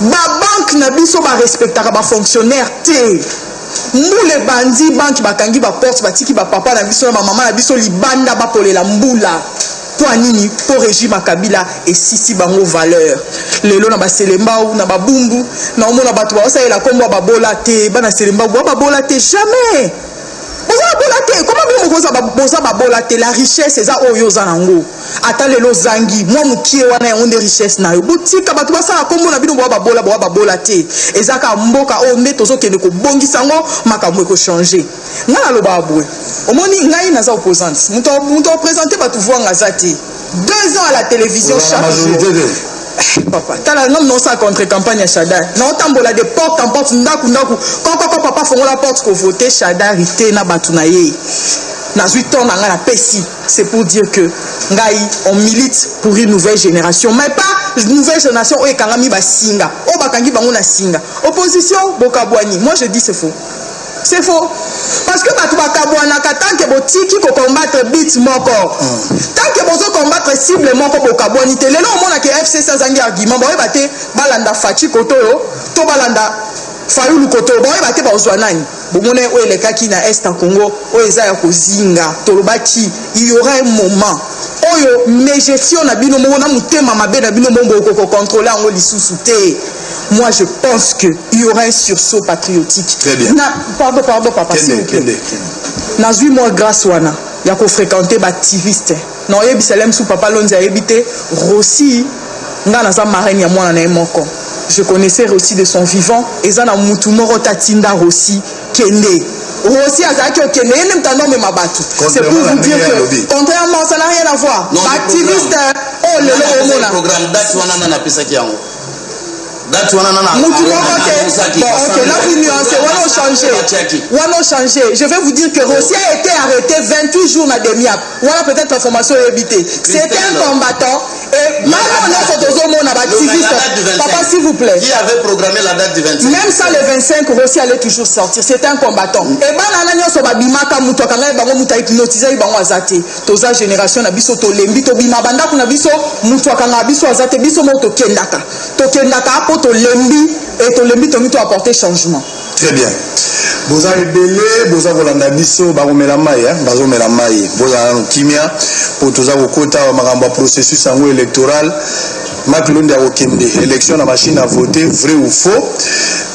babanke na biso barespectaka bafonctionnaire te Mbula ebandi bantu bakangi ba porte batiki ba papa na biso na ba mama na biso libanda bakolela mbula mpo ya nini mpo regime ya kabila esisi bango valeur lelo na baselembau na babumbu na omona bato baosalela nkombo ya babola te bana selembau bwa babola te jamais boza babola te koma bino boza babola te la richesse eza oyo oza nango ata lelo ozangi mwa mokie wana yango nde richesse na yo botika bato basala nkombo na bino boa babola boa babola te eza kaka mboka oyo nde tozokende kobongisa yango makambo ekochange ngai nalobaka boye omoni ngai naza opposante moto apresente bato voanga aza te deux ans à la télévision chaque jour papa tala nomi nosala contre campagne ya shadar naotambola de porte en porte ndako ndako kokoko papa fongola porte kovote shadari te na bato na ye nazwi temps na ngai napesi c'est pour dire que ngai on milite pour une nouvelle génération mais pas nouvelle génération oyo ekangami basinga oyo bakangi bango na singa opposition bokabwani moi je dis c'est faux c'est faux parce que bato bakabwanaka tant que botiki kocombattre bit moko mm. tant que bozocombattre cible moko bokabwani te lelo omonaka fcc azangi argument baoyeba te balanda faci koto oyo to balanda fayulu koto oyo baoyeba te baozwa nani bomona oyo elekaki na est ya congo oyo eza ya kozinga tolobaki iyora un moment oyo megestion na bino moko na motema mabe na bino moko bokokokontrole yango lisusu te moi je pense que il y aura un sursaut patriotique Très bien. Na, pardon pardon papa s'il vous plaît nazwi mwa grâce wana ya kofréquente baactiviste na oyebisa lem su papa lonzi ayebi te rosi ngai naza marraine ya mwana na ye moko je connaissais rosi de son vivant eza na mutu moko tatinda rosi kende rosi azalaki okende ye nde moto anomema bato c'est pour vous dire que contrairement ça n'a rien à voir baactiviste oyo lelo omona date wana nana mutu moko te bon ok na vous nuance wana ochange wana ochange je vais vous dire que rossi a été arrêté 28 jours na demiap wana peut-être information oyebi te c'était un combattant et mama nyonso tozomona bativiste papa s'il vous plaît qui avait programmé la date du 25 même ça le 25 rossi allait toujours sortir c'est un combattant et bana na nyonso babimaka mutu akangaki bango mutu ahypnotisaki bango aza te toza generation na biso tolembi tobima bandako na biso motu akangaka biso aza te biso moko tokendaka tokendaka mpo tolembi e tolembi tongi to apporte changement très bien boza ebele boza kolanda biso bakomela mai eh? bazomela mai bozala nano kimia mpo toza kokota makambo ya processus yango électoral Marc Londi akokende élection na machine à voter vrai ou faux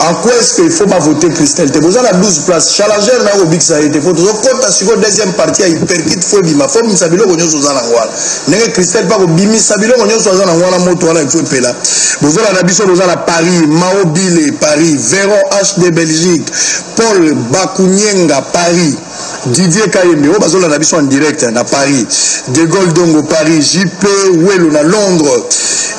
en quoi est-ce qu'il faut bavoter Christelle te boza na 12 place challenger nayo kobikisa ye te mpo tozokɔta sikoyo deuxième partie ya hyperkite fo ebima fo obimisa biloko nyonso oza nango wana ndenge Christelle mpe akobimisa biloko nyonso aza nango wana moto wana efo epela bozola na biso boza na Paris Mao Bile Paris Véron HD Belgique Paul Bakunyenga Paris Didier Kayembe oyo bazolanda biso en direct na Paris De Gaulle Dongo Paris JP Welo na Londres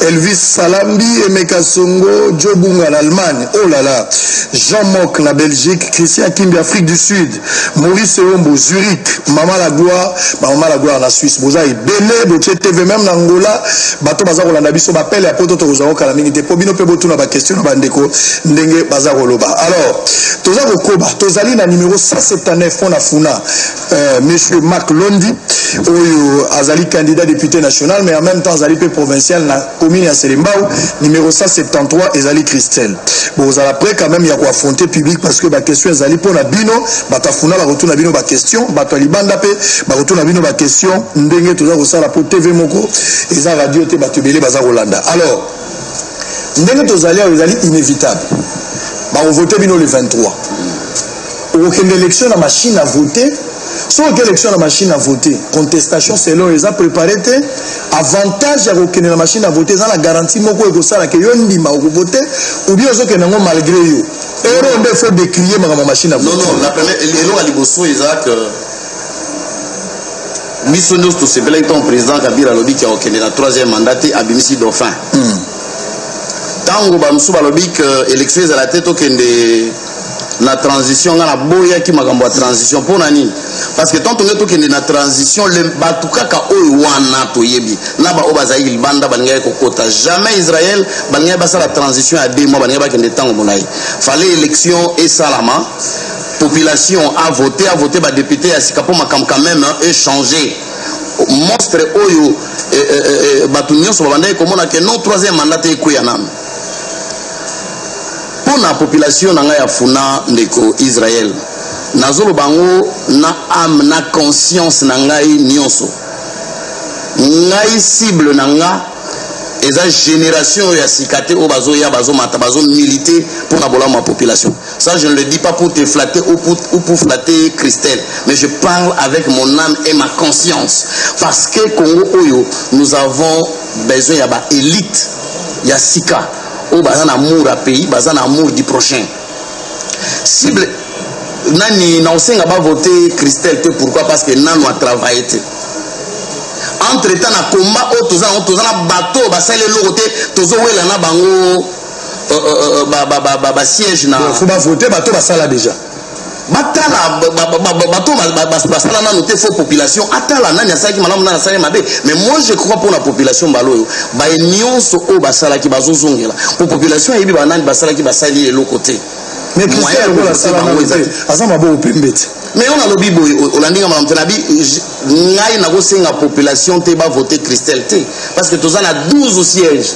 Elvis Salambi Emeka Songo Joe Bunga na Allemagne oh là là Jean Mock na Belgique Christian Kimbi Afrique du Sud Maurice Eombo Zurich Mama la Gloire ba Mama la Gloire na Suisse boza ebele botie TV même na Angola bato baza kolanda biso bapele ya poto tokozwa kokala mingi te mpo bino mpe botuna bakestion na bandeko ndenge baza koloba alors toza kokoba tozali na numero 179 mpo na funa euh, monsieur marc londi oyo azali candidat député national mais en même temps azali mpe provincial na commune ya selembao numero 173 ezali christelle bozala près quand même ya koaffronter public parce que baquestion ezali mpo na bino bato ya funa bakotuna bino baquestion bato ya libanda mpe bakotuna bino baquestion ndenge toza kosala mpo tv moko eza radio te bato ebele baza kolanda alors ndenge tozali awa ezali inévitable bakovote bino le 23 okokende élection na machine à voter soki oke élection na machine à voter contestation selon eza préparé te avantage ya kokende na machine à voter eza na garantie moko ekosala ke yo ndima okovote ou bien ozokende yango malgré yo ero nde faut décrier makambo machine à voter non non eloko ya liboso eza que biso nyonso tosepelaki ntango président kabila alobi ke akokende na troisième mandat te abimisi dauphin ntango hmm. bamosusu balobi ke élection ezala te tokende na transition ngai naboyaki makambo ya transition mpo na nini parce que tantonge tokende na transition bato kaka oyo wana toyebi na baoyo bazalaki libanda balingaki kokota jamais israel balingaki basala transition ya deux mois balingaki bakende ntango molai fale élection esalama population a vote a vote ba député ya sika mpo makambo quand même e changer monstre oyo eh, eh, eh, eh bato nyonso babandaki komona ke non troisième mandat te ekweya nanu mpo na population na ngai ya funa ndeko israel nazoloba yango na ame na conscience na ngai nyonso ngai cible na nga eza génération oyo ya sika te oyo bazoya bazomata bazomilite mpo na bolamu ya population Ça, je ne le dis pas pour te flatter ou pour, ou pour flatter Christelle, mais je parle avec mon âme et ma conscience. Parce que Congo Oyo, nous avons besoin ya ba élite ya sika oyo baza na amour ya pays baza na amour du prochain cible nani na osenga bavote christelle te pourquoi parce que nanu atravaille te entre temps na combat oyo toza na bato oyo basali eloko te tozowela na bango euh, euh, euh, ba ba siège na faut ba voter bato basala déjà batala bato basala nano te fo population atala nani asalaki malamu nani asalaki mabe mais moi je crois mpo na population mbala oyo baye nyonso oyo basalaki bazozongela mpo population ayebi banani basalaki basali eloko te mais kristian lokola asala nano te aza maboko pembe te mais yo nalobi boye olandi nga malamu te nabi ngai nakosenga population te bavote christelle te parce que toza na 12 siège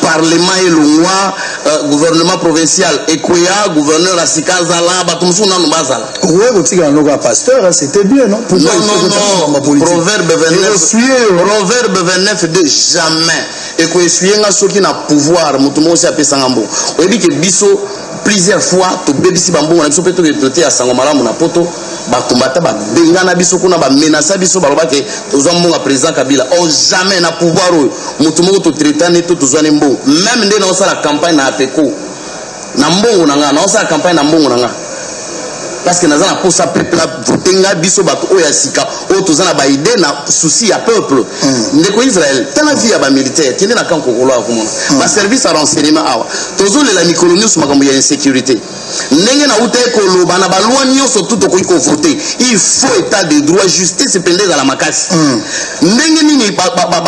parlement elongwa uh, gouvernement provincial ekweya gouverneur ya sika azala bato mosusu nano bazala okoki kotikala noko ya pasteur hein, c'était bien non proverbe 29 de jamais ekoesuye nga soki na pouvoir moto moko osi apesanga mbongo oyebi ke biso plusieurs fois tobebisi bambongo na biso mpe toke toteya sango malamu na poto bakombata babengana biso kuna bamenasa biso baloba ke tozwa mbongo ya président kabila o oh, jamais na pouvoir oyo motu moko totretane to tozwani mbongo meme nde naosala campagne na apeco na mbongo na ngai naosala campagne na mbongo na ngai parce que naza na posa peuple avote ngai biso bato oyo ya sika oyo toza na baide na souci ya peuple mm. ndeko israel tala vie ya bamilitaire kende na camp kokolo akomona mm. baservice ya renseignement awa tozolela mikolo nyonso makambo ya insécurité ndenge nautaki koloba na balwa nyonso tu tokoki kovote il faut état de droit justice mpenza ezala makasi hmm. ndenge nini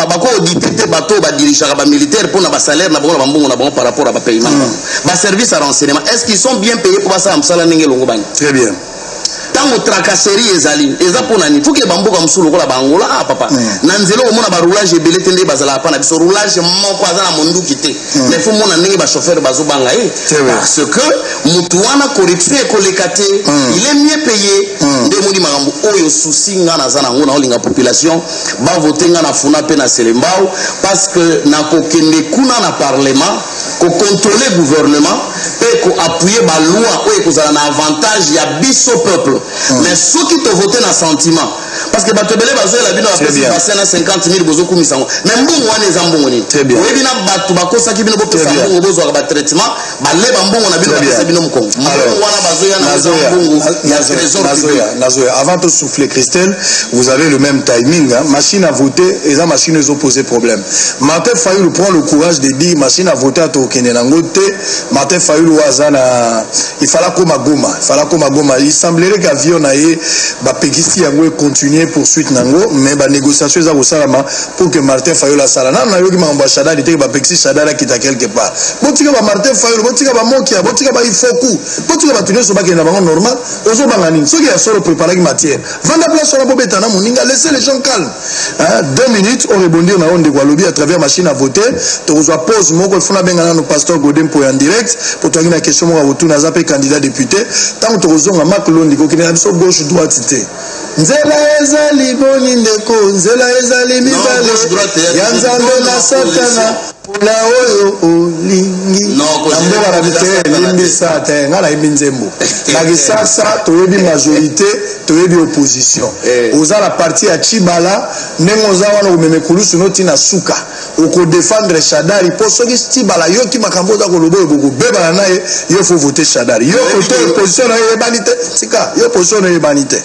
bakoodite te bato oyo badirigeaka bamilitaire mpo na basalaire na bango na bambongo na bango par rapport ya bapaiement na bango baservice ya renseignement est ce qu'ils sont bien paye mpo basala mosala ndenge elongobani très bien ntango tracasserie ezali eza mpo na nini fuke bamboka mosusu lokola baangola a ah, papa mm. na nzela okomona baroulage ebele te nde bazalaka mpa na biso roulage moko aza na monduki te mm. mais fo mona ndenge bachauffeur bazobanga ye parce que motu wana corruption ekoleka te mm. il est mieux payé mm. nde omoni makambo oyo susi nga naza nango naolinga population bavote nga na funa mpe na selembao parce que nakokende kuna na parlement kocontrole gouvernement mpe koappuye baloi oyo ekozala na avantage ya biso peuple mm. mais soki tovote na sentiment parce que bato ebele bazoyela bino bapesi bassin na 50 000 bozokumisa yango mais mbongo wana eza mbongo nini oyebi na bato bakosaki bino bopesa mbongo bozwaka batraitement baleba mbongo na bino bapesa bino mokongo mbongo wana bazoya na mbongo ya trésor nazoya avant tosouffle christelle vous avez le même timing hein? machine à voter eza machine ezopose problème Martin Fayulu prend le courage de dire machine à voter à tokende nango te Martin Fayulu oyo aza na il fallait akoma Goma il fallait akoma Goma il semblerait que avion na ye bapekisi yango econtinue poursuite nango mais banégociation eza kosalama pour que Martin Fayulu asala nano nayoki makambo ya Shadari te bapekisi Shadari akita quelque part botika ba Martin Fayulu botika ba Mokia botika ba Ifoku botika bato nyonso bakende na bango normal ozobanga nini soki ya solo preparaki matière vanda place wana bobeta na moninga laisse les gens calme hein? deux minutes o rebondir na oyo ndeko alobi à travers machine à voter tokozwa pause moko funa benga nano pasteur gode mpo ya direct mpo toyangi na question moko akotuna aza mpe candidat député ntango tokozonga mak londi kokende na biso gauche droite te nzela ezali boni ndeko nzela ezali mibale ya nzambe na satana Pula oyo olingi yango balobi te limbisa te ngai nayebi nzembo na kisasa toyebi majorité toyebi opposition eh. oza na parti ya chibala ndenge oza wana okomema ekulusu no ntina suka okodefendre shadari mpo soki chibala yoki makambo oza koloba oyo bokobebana na ye yo fo vote shadari yo kote opposition na yo eyebani te tika yo opposition na yo eyebani te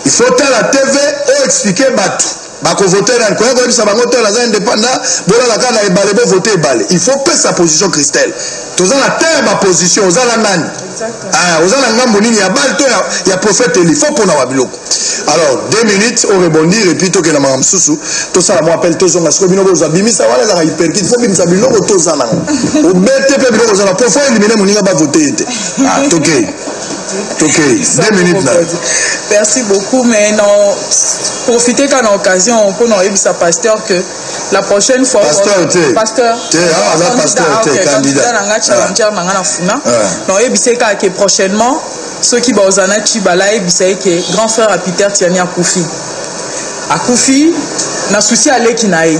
il faut tala tv oexplike bato bakovote nani koya koyebisa bango te naza indépendant bolala kaka na ebale bovote ebale il faut pesa position christelle toza na te ya baposition oza na nani ah, oza na ngambo nini ya bale to ya prophète eli fo mpona wa biloko alors deux minutes orebondir epuis tokenda maka mosusu tosala mwa appel tozonga sikoyo bino bozwa bimisa wana ezaka hyperkite fo bimisa biloko toza nango obete mpe biloko oza na po fo elimine moninga bavote ye te ah, tokei tokei deux minutes na merci beaucoup mais na profite kaka na occasion mpo na oyebisa pasteur que la prochaine fois pasteur te pasteur te ah la pasteur te candidat na nga challenger ah. na nga na funa ah. na oyebisa ye kaka que prochainement soki baoza na chiba la yebisa ye que grand frère ya peter tiani akufi akufi na susi aleki na ye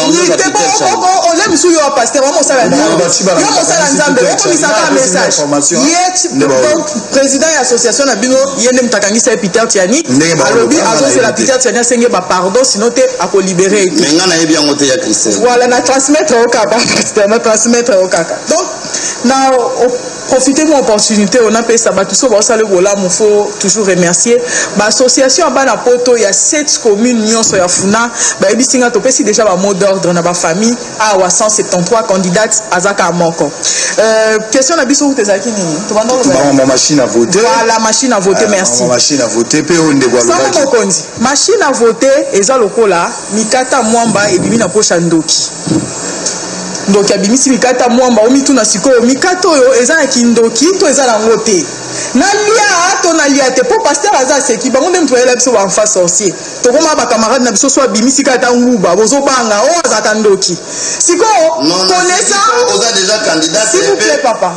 ole mosusu yo paster wa mosala yo mosala nzambe okomisaka message ye président ya association na bino ye nde moto akangisa ye peter tiani alobi azozela peter tiani asenge bapardon sino te akolibere ye te nayebi yango te ya christel voilà na transmettre yo kaka paster na transmettre yo kaka donc na profite mwa opportunité oyo napesa bato so baosala bolamu fo toujours remercier baassociation ya bana poto ya 7 commune nyonso ya funa bayebisi nga topesi déjà bamot d'ordre na bafamille awa 173 candidate azaka moko euh, question na biso kuta ezalaki nini tobandala machine à vote voilà machine à vote euh, merci machine à vote mpe oyo ndeko alobaki mokonzi machine à vote eza lokola mikata mwamba ebimi na poche ya ndoki ndoki abimisi mikata mwamba omituna sikoyo mikata oyo eza na kindoki to eza nango te nalia to nalia te mpo paster aza aseki bango nde moto bayela biso banfa sorcier tokoma bacamarade na biso so abimisi kata nguba bozobanga oyo oh, azalaka ndoki sikoyo konesa papa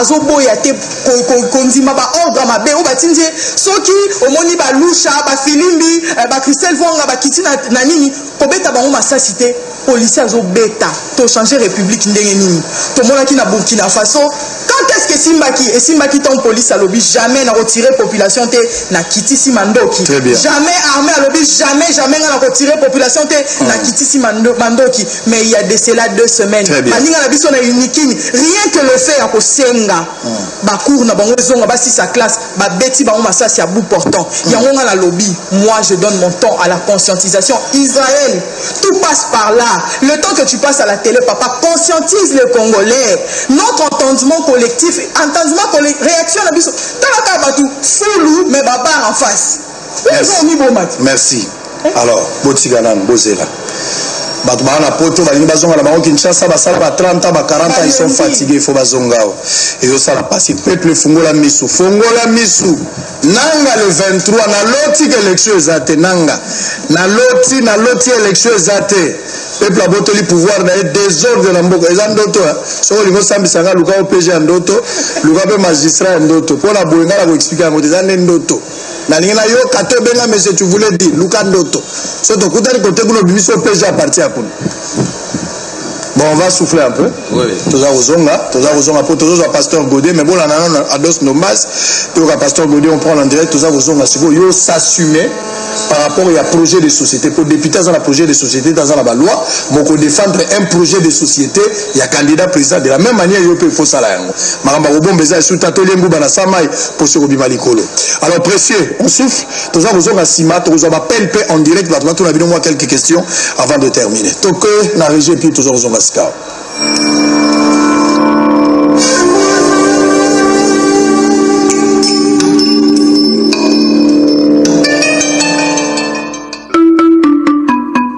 azoboya te kondima baordre ya mabe oyo batindi ye soki omoni balusha bafilimbi eh, bacristel vonga bakiti na nini kobeta bango masasi te polisi azobeta tochange république ndenge nini tomonaki na burkina faso quand est ce que esimbaki esimbaki ntango polisi alobi jamais nakotire population te nakitisi mandoki jamais armé alobi jamais jamais ngai nakotire population te nakitisi mandoki mais il y a de cela deux semaines baninga na biso na unikin rien que le fait ya kosenga hmm. bacour na bango ezonga basisa classe babeti bango masasi ya bout portant hmm. yango nga nalobi moi je donne mon temps à la conscientisation israël tout passe par là le temps que tu passes à la télé papa conscientise le congolais notre entendement collectif entendement collectif réaction na biso talaka bato fulu mais babare en face merci eh? alors botika nanu bozela bato baa na poto balingi bazonga na bango kinshasa basala ba 30 ans ba 40 ans ils sont fatigués faut bazonga awa ezosala mpasi peuple fungola misu fongola misu nanga le 23 naloti ke élection eza te nanga naloti naloti élection eza te peuple abotoli pouvoir na ye desordre na mboka eza ndoto soki olingi osambisa nga luka opg ya ndoto luka mpe magistrat ya ndoto mpo na boye nga na koexplike yango te eza nde ndoto nalingi nayoka te obenga monsieur tu voulais dire luka ndoto so tokutani kote kuna obimisi opg ya parti ya kuna bon on va souffler un peu toza kozonga toza kozonga mpo tozozwa pasteur gode mais bolanda nano ados nombas toyoka pasteur gode on prend en direct toza kozonga sikoyo yo s'assume par rapport ya projet de société mpo député aza na projet de société te aza na baloi moko défendre un projet de société ya candidat président de la même manière yo mpe faut sala yango makambo akobomba eza esu ta tolie nguba na samai mposo ekobima likolo alors précieux on souffle toza kozonga nsima tokozwa bapele mpe en direct bato batuna bino mwa quelques questions avant de terminer toke na régie epuis toza kozonga sikawa